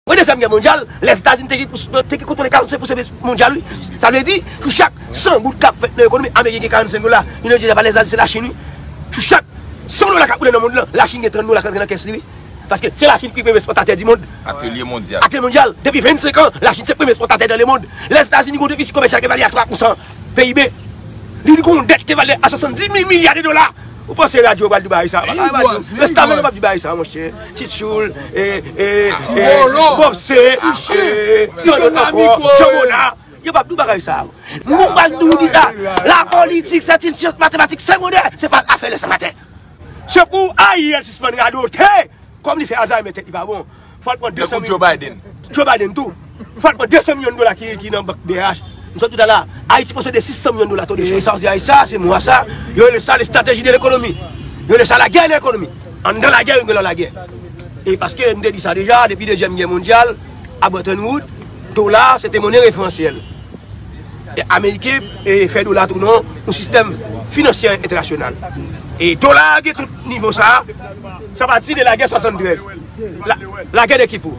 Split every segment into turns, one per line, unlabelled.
Premye Dezyèm Gè Mondyal, Lèzetazini te gen kontwole 45 pousan biznis mondyal wi. Sa vle di, sou chak 100 goud k ap fèt nan ekonomi, Ameriken gen 45 dola, li nan diyèz avalèz la, se Lachin wi. Sou chak 100 dola k ap woule nan mond lan, Lachin gen 30 dola k ap rantre nan kès li wi. Paske se Lachin ki premye espòtatè di mond. Atelye Mondyal. Atelye
Mondyal, Depi 25
an, Lachin se premye espòtatè nan lemond. Lèzetazini gen yon defisi komèsyal ki evalye a 3 pousan PIB. Li gen yon dèt ki evalye a 70 mil milya de dola. Ou panse radyo yo pral di bagay sa? Yo pap di sa. Restavèk yo pap di bagay sa monchè. Ti tchoul, bob se, ti tchoul anko, tchomona. Yo pap di bagay sa. Mwen pral di ou di sa. La politik se ti tchoul matematik se mode. Se pa afele se maten. Se pou a yel sispan radote. Kom li fe azay men tet li pa bon. Fòl pran 200 mil. Tankou Joe Biden. Joe Biden
tou.
Fòl pran 200 milyon dola ki nan bank brh. M sot touta la. Ayiti posede 600 milyon dola to de chanj. E sa w di a sa, se mwa sa. Yo rele sa lestrateji de lekonomi. Yo rele sa lagè de lekonomi. Anndan lagè yo gen lò lagè. E paske m te di sa deja, depi dezyèm gè mondyal, a Bretton Wood, dola se te monnen referansyèl. E ameriken fè dola tou non yon sistèm finansyè entènasyonal. E dola gen tout nivo sa. Sa pati de lagè 73. Lagè de Kipou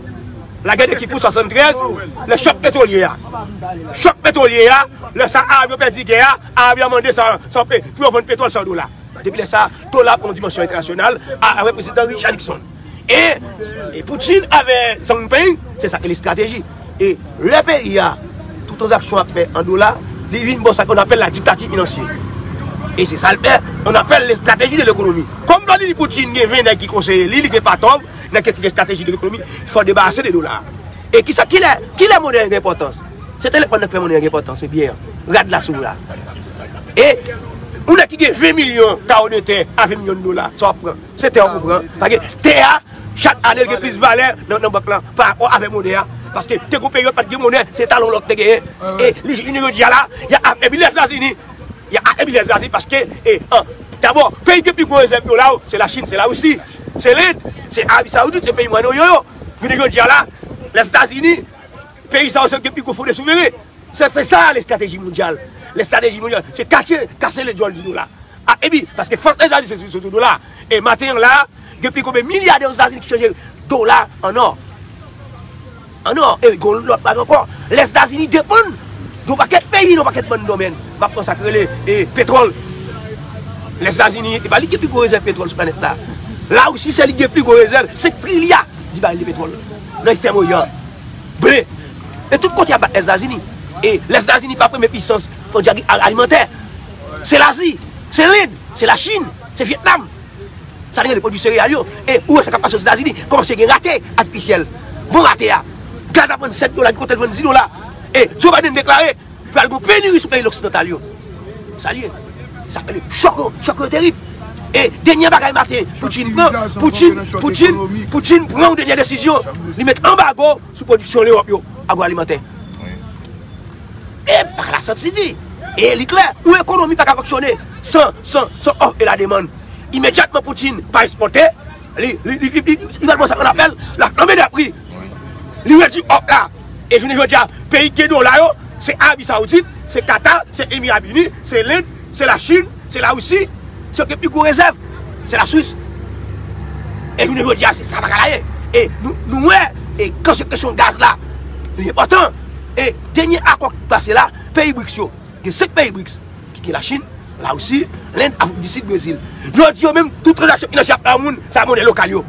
Lagè de Kipou 73 Lè chòk petwolye a Chòk petwolye a Lè sa Arab yo pèdi gè a Arab yo mande san pe Pou yo vann petwòl san dola Depi lè sa Dola pran yon dimansyon entènasyonal Avèk prezidan Richard Nixon E Putin avè Zhang Ping Se sa ki rele estrateji. E lè peyi a, tout tranzaksyon ap fè an dola, li vin bon sa ke nou apèl la diktati finansye. E se sa l fè, on apèl le strateji de lekonomi. Kòm Vladimir Poutine gen 20 nèg ki konseye li, li gen patòm, nèg ki te di gen strateji de lekonomi, fò debarase de dola. E kisa, kilè, kilè monnen an gen enpòtans? Se telefòn nan k fè monnen an gen enpòtans, se biyè an, rad la si w la. E, yon nèg ki gen 20 milyon karo de tè a 20 milyon dola, sa w ap pran? Se tè w pou pran. Paske tè a. Chak ane l gen plis valè nan bank lan pa rapò avè monnen an. Paske te gen yon peryòd pat gen monnen, se talon lò ki te genyen. E li jounen jodi a la, y a afebli lèzazini. Y a afebli lèzazini paske dabò peyi ki gen pi gwo rezèv dola yo se Lachin, se Larisi, se Lend, se Arabi Sawoudit, se peyi Mwayen Oryan yo. Jounen jodi a la, lèzazini. Peyi sa yo se yo ki gen pi gwo fonde souveren. Se se sa lestrateji mondyal. Lestrateji mondyal se kache, kase le djòl di dola. A epi, paske fòs Lèzetazini se sou do dola. E maten an la a, gen pi konbe milyadè Ozetazini ki chanje dola an nò. An nò. E gen yon lòt bagay ankò. Lèzetazini depann de yon pakèt peyi nan yon pakèt bann domèn. M ap pran sa ki rele e petwòl. Lèzetazini, e pa li ki gen pi gwo rezèv petwòl sou planèt la. Larisi se li ki gen pi gwo rezèv, 5 trilya di baril de petwòl nan Ekstrèm Oryan. ble e tout kote ap bat Lèzetazini e Lèzetazini pa premye pisans alimantè se Lazi, se Lend, se Lachin, se Vyetnam sa nou rele pwodwi sereyal yo e ou wè sa kap pase Lèzetazini kòmanse gen rate atifisyèl bon rate a gaz ap vann 7 dola gen kote l vann 10 dola e Joe Biden deklare. Pral gon penuri sou peyi loksidantal yo. Sa li ye. Sa k rele chòk yo. Chòk yo terib. E denyè bagay maten Putin pran, Putin, Putin, Putin pran yon denyè desizyon. Li met anbago sou pwodiksyon Lewòp yo, agwoalimantè. E pa la santi di. E li klè, yon ekonomi pa ka fonksyone san, san, san òf e lademann. Imedyatman Putin pa espòte. Li pral pran sa kòl ap fèl lap flanbe nan pri li redi òk la e jounen jodi a peyi ki gen dola yo se Arabi Saoudit se Qatar se Emirats Arab Unis se Lend se la Chine se la Russie se yo ki gen pi gwo rezèv se la Suisse e jounen jodi a se sa bagay la ye e nou wè e kan se kesyon gaz la li enpòtan e dènye akò ki pase la peyi BRICS yo gen 5 peyi BRICS ki gen Lachin, Larisi, Lend, Afrik di Sid, Brezil. Yo di yo menm tout tranzaksyon finansye ap fè an moun, se ak monè lokal yo.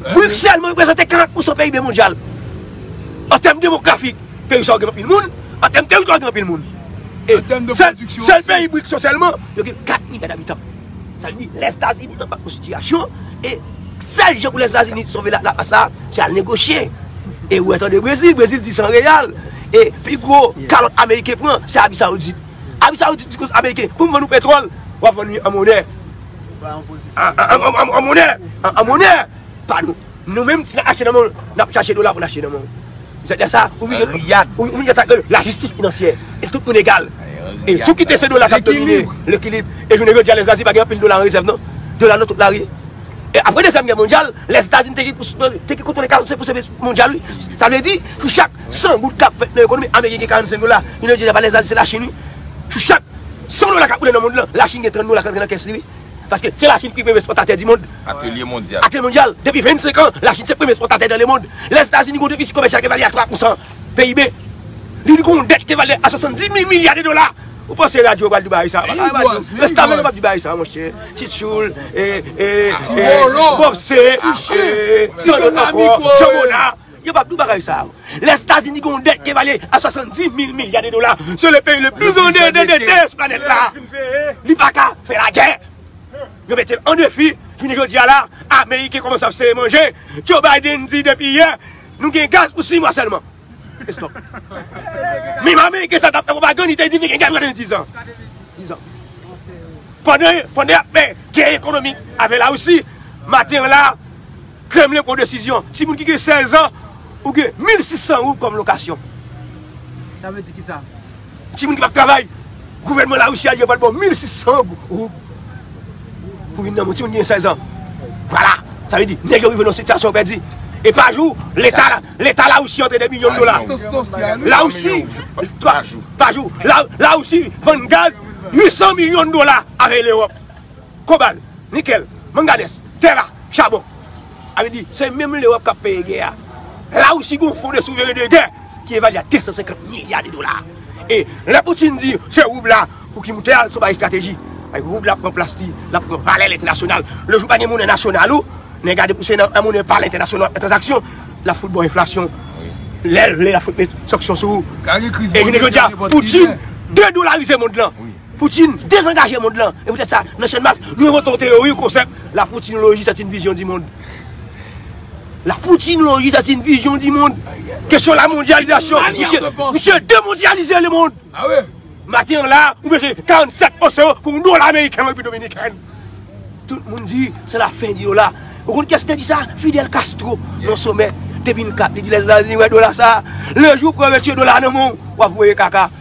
Brik sèlman reprezante 40 pousan PIB mondyal. An tèm demografik, peyi sa yo gen anpil moun, an tèm teritwa yo gen anpil moun. Sèl peyi Brik yo sèlman, yo gen 4 milya dabitan. Sa vle di Lèzetazini nan pa bon sitiyasyon e sèl jan pou Lèzetazini sove laplas la, se al negosye. E ou wè tande Brezil, Brezil di san reyal e pi gwo kalòt Ameriken pran, se Arabi Sawoudit. Abi saoudit di koz ameriken pou vann ou petrol wap vann li an monè an monè an monè pa nou nou menm si nap achte nan men w nap chache dola pou n achte nan men w se de sa ou vin gen ou vin gen sa kre la jistis finansyè e tout moun egal e sou kite se dola kap domine lekilib e jounen jodi a lè zazi pa gen anpil dola an rezèv non dola nan tout lari e apre dezyèm gè mondyal lè etazini te gen pou te gen kontwole 45 pou se mondyal wi sa vle di pou chak San goud kap fèt nan ekonomi ameriken gen 45 dola, li nan djezè pa lèzal se lachin wi. Sou chak 100 dola kap woule nan mond lan, lachin gen 30 dola k antre nan kès li wi. Paske se lachin ki premye espòtatè di mond. Atelye mondyal. Atelye
mondyal, depi 25
an, lachin se premye espòtatè dan le mond. Lèzetazini gen yon defisi komèsyal ki valè a 3 pousan PIB. Li gen yon dèt ki valè a 70 mil milya de dola. Ou panse radyo yo pral di bagay sa? Pa ka radyo. Restavèk yo pap di bagay sa monchè. Ti tchoul, e, e, e, bòpse, e, e, tandotanpò, tchòmona. Yo pap di w bagay sa yo. Lèzetazini gen yon dèt ki evalye a 70 mil milya de dola. Se le peyi le plis andedete sou planèt la. Li pa ka fè lagè. Yo mete l an defi. Jounen jodi a la, ameriken kòmanse ap sere manje. Joe Biden di depi yè, nou gen gaz pou 6 mwa sèlman. Estòp. Menm ameriken sa tap fè pwopagann, li te di li gen gaz pou kade 10 an. 10 an. Pandan y ap fè gè ekonomik avè Larisi, maten an la, Kremlin pran desizyon si moun ki gen 16 an ou gen 1600 roub kòm lokasyon. Sa
vle di kisa? Timoun ki pap travay,
gouvènman Larisi a di yo pral ba w 1600 roub pou vin nan moun, timoun ki gen 16 an. Vwala! Sa vle di, nèg yo rive nan yon sitiyasyon yo pèdi. E pa jou, leta, leta Larisi antre 2 milyon dola. Larisi, pa jou, Larisi vann gaz 800 milyon dola avèk Lewòp. kobal, nikèl, manganès, tè ra, chabon. Alè di, se menm Lewòp k ap peye gè a. Larisi gen yon fon de souveren de gè ki evalye a 250 milya de dola. E lè Poutin di se roub la pou ki moute a, l se yon bagay estrateji. Roub la pran plas li, l ap pran valè l entènasyonal. Le jou pa gen monnen nasyonal ou, nèg gade pou se nan monnen pa l entènasyonal w ap fè tranzaksyon, l ap fout ba w enflasyon. Lè l vle l ap fout met sanksyon sou ou. E jounen jodi a, Poutin dedolarize mond lan. Poutine dezangaje mond lan e poutèt sa nan Channmas nou envante yon teyori, yon konsèp, la poutinoloji sèt yn vizyon di mond. La poutinoloji sèt yn vizyon di mond. Kesyon la mondyalizasyon, misye demondyalize le mond.
Maten an la
ou pèse 47 osewo pou yon dola ameriken an Repiblik Dominikèn. Tout moun di se la fen di dola. Ou konn kiyès ki te di sa? Fidel Castro nan somè 2004 li di lèzetazini wè dola sa, le jou pou yo retire dola nan menw wap voye kaka.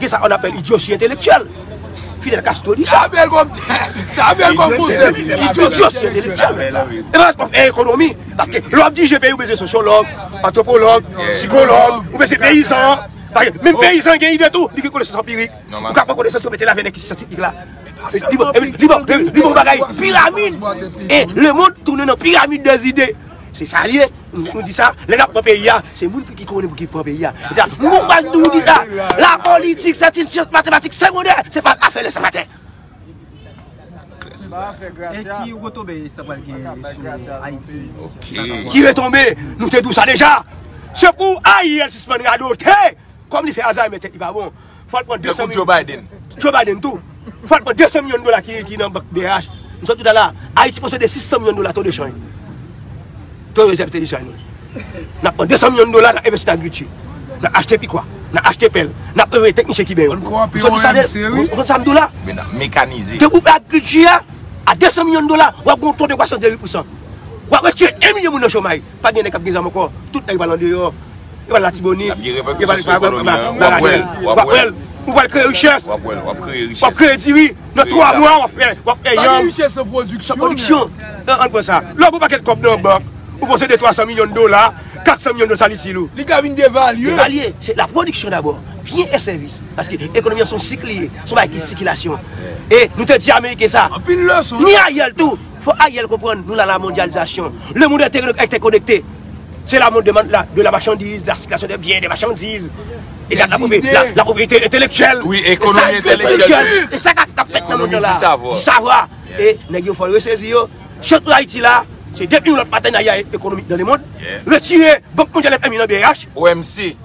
Gen sa on apèl idyosi entelektyèl. Fidel Castro di sa. Sa bèl kòm
konsèp. Idyosi entelektyèl.
E pa responsab en ekonomi. Paske lè wap dirije peyi ou bezwen sosyològ, antropològ, sikològ, ou bezwen peyizan. Menm peyizan gen ide tou. Li gen konesans anpirik. Ou ka pran konesans yo mete laven nan kisa syantifik la. Li bon bagay piramid. E le mond tounen nan piramid de zide. Se sa li ye, nou di sa, lè nap pran peyi a, se moun ki konnen pou ki pran peyi a. Nou pa di nou di sa, la politik se yon syans matematik segondè, se pa afè lè sa maten.
E ki retonbe sa pral gen sou Ayiti? Ki retonbe? Nou
te di w sa deja. Se pou Ariel sispann radote, kòm li fè Alzheimer tèt li pa bon. Fò l pran 200 milyon dola. Tankou Joe Biden tou. Fò l pran 200 milyon dola ki nan bank brh. M sot toutalè a. Ayiti posede 600 milyon dola to de chanj. To rezèv te de chanj nou. N ap pran 200 milyon dola nan envesti nan agrikilti. Nan achte pikwa. Nan achte pèl. N ap anvoye teknisyen kiben yo. M sot toutalè.
M konn sa m di w la. Men nan
mekanize. Tankou
agrikilti
a. A 200 milyon dola. W ap gen yon to de kwasans de 8 pousan. W ap retire 1 milyon moun nan chomaj. Pa gen nèg kap gen zam ankò, tout nèg yo pral andeyò, yo pral latibonit, yo pral baradèl, wap wèl, ou pral kreye richès, wap kreye diri, nan 3 mwa wap fè, wap fè yanm, san
pwodiksyon,
an pran sa, lè ou gen pakèt kòb nan bank, ou panse 2 300 milyon dola, 400 milyon dola sa li itil ou? Li ka vin devalye.
Devalye, se la pwodiksyon
dabò, byen e sèvis, paske ekonomi an son sik li ye, son bagay ki sikilasyon, e nou te di ameriken sa, ni Ariel tou. Fò Ariel konprann nou nan la mondyalizasyon. Le mond entèkonekte. Se la mond de la machandiz, la sikilasyon de byen, de machandiz. E gad la povrete entelektyèl. Wi ekonomi
entelektyèl. Se sa kap fèt nan
mond nan la. Di savwa. E nèg yo fò yo sezi yo. Chans pou Ayiti la, se depi yon lòt patenarya ekonomik nan le mond. Retire bank mondyal FMI nan brh. OMC.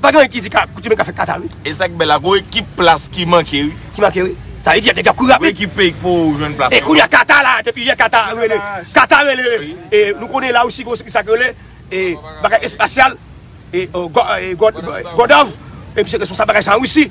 Pa gen anyen ki
di
ka kouti
men ka
fè kata
wi.
E sak
bèl la
gon
ekip
plas ki manke
wi.
Ki manke
wi.
Sa vle di nèg yo ap kouri rapid. Gon ekip peyi ki poko jwenn
plas. E kounya kata la depi
yè kata rele. Kata rele e nou konnen la russie gon sak rele e bagay espasyal e god of epi se responsab bagay sa an russie.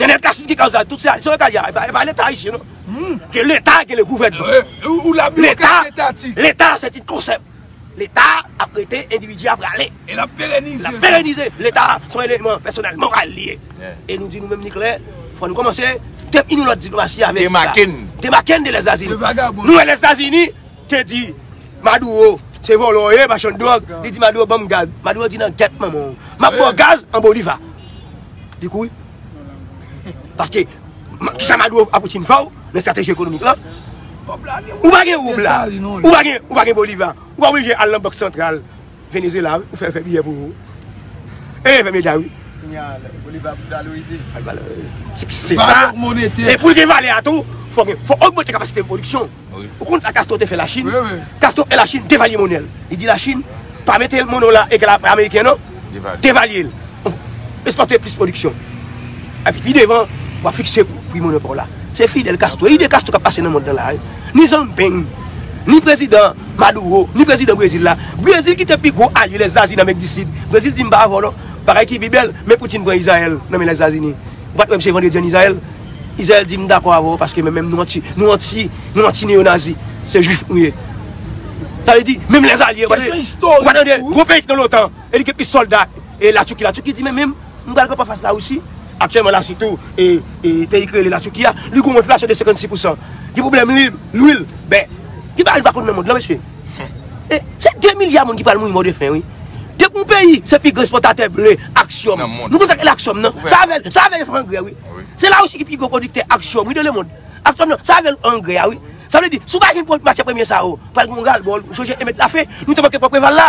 Nenel cassy ki kòz la tout sa se yo kal ya epa leta ayisyen non ke leta gen le gouvènman leta leta se ti konsèp leta ap rete endividi ap rale lap
perenize leta
son eleman pèsonèl moral li ye e nou di nou menm ni klè fò nou kòmanse depi nou lòt diplomasi ameriken la demaken de lèzazini nou e lèzazini te di maduro se vòlò ye machann dròg li di maduro banm gaz maduro di nan gèt manmanw map baw gaz an boliva li kouri paske kisa maduro a poutine fèw nan strateji ekonomik lan ou pa gen roub la ou pa gen boliva ou pa oblije al nan bank santral Venezuela wi ou fè yo fè biyè pou ou wi e Bermuda wi. Kounya Bolivar ap valorize. Ap valorize. Se sa. Valè monetè. E poul gen valè a tou fò gen fò ogmante kapasite pwodiksyon. Wi. Ou konn sa Castro te fè la Chine? Wi wi. Castro e la Chine devalye monèl. Li di la Chine pa mete mono la egal a ameriken non. Devalye. Devalye l. Espòte plis pwodiksyon. Epi pi devan, w ap fikse pri monnen pa w la. Se Fidel Castro, ide Castro k ap pase nan mond lan la a. Ni Zambeng, ni prezidan Maduro, ni prezidan Brezil la. Brezil ki te pi gwo alye Lèzazini Amerik di Sid. Brezil di m pa avè w non. Bagay ki pi bèl, men Putin pran Izrayèl nan men Lèzazini. Ou pa t wè misye vandredi ann Izrayèl? Izrayèl di m dakò avè w paske menm nou anti, nou anti, nou anti neyonazi. Se jwif nou ye. Sa vle di, menm lèzalye, ou pa tande, gwo peyi ki nan lotan. e li gen plis sòlda e la Turquie la Turquie di men menm m pral kanpe anfas la Russie aktyèlman la Russie tou e e peyi ki rele la Turquie a li gon enflasyon de 56 pousan gen pwoblèm li lwil bè gen bagay nou pa konn nan mond lan mesye e se 2 milya moun ki pral mouri mò de fen wi depi yon peyi se pi gran espòtatè ble ak sòm nou konn sa ki rele ak sòm nan sa avè l sa avè l yo fè angrè wi se la Russie ki pi gwo pwodiktè ak sòm wi nan le mond ak sòm nan sa avè l angrè a wi sa vle di si w pa jwenn matyè premye sa yo pral gen yon ral bò l ou sonje Emet la fen nou te manke pran Preval la.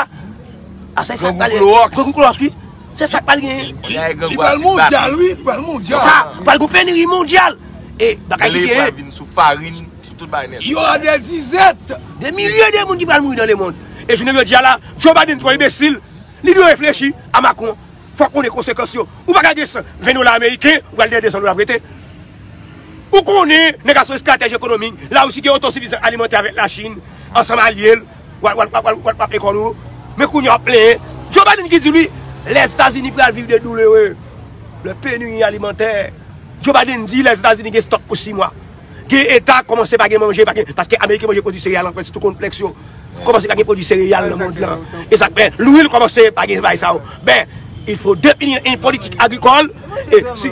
Asa esak pral gen. Grangou klowòks wi. Se sak pral gen. Bagay grangou
a si bak. Se sa pral gen peniri
mondyal. E bagay ki gen. Lè pral vin
sou farin, sou tout bagay nèt.
Yo a de dizèt. De milye de
moun ki pral mouri nan le mond. E jounen jodi a la, Joe Biden twò enbesil. Li dwe reflechi a Macron. Fòk konnen konsekans yo. Ou pa ka gen 120 dola ameriken, ou pral gen 200 dola prete. Ou konnen nèg a son estratèj ekonomik. La Russie gen oto sifizan alimantè avèk la Chine, ansanm alye l. Wal wal wal wal wap lekòl ou men kounye a wap plenyen Joe Biden ki di wi Lèzetazini pral viv de doulere lè penuri alimantè Joe Biden di Lèzetazini gen stòk pou 6 mwa gen eta kòmanse pa gen manje pa gen paske Ameriken manje pwodui sereyal an kwanti tou konplèks yo kòmanse pa gen pwodui sereyal nan mond lan e sa k fè lwil kòmanse pa gen bagay sa yo ben il fo depini en politik agrikòl e si.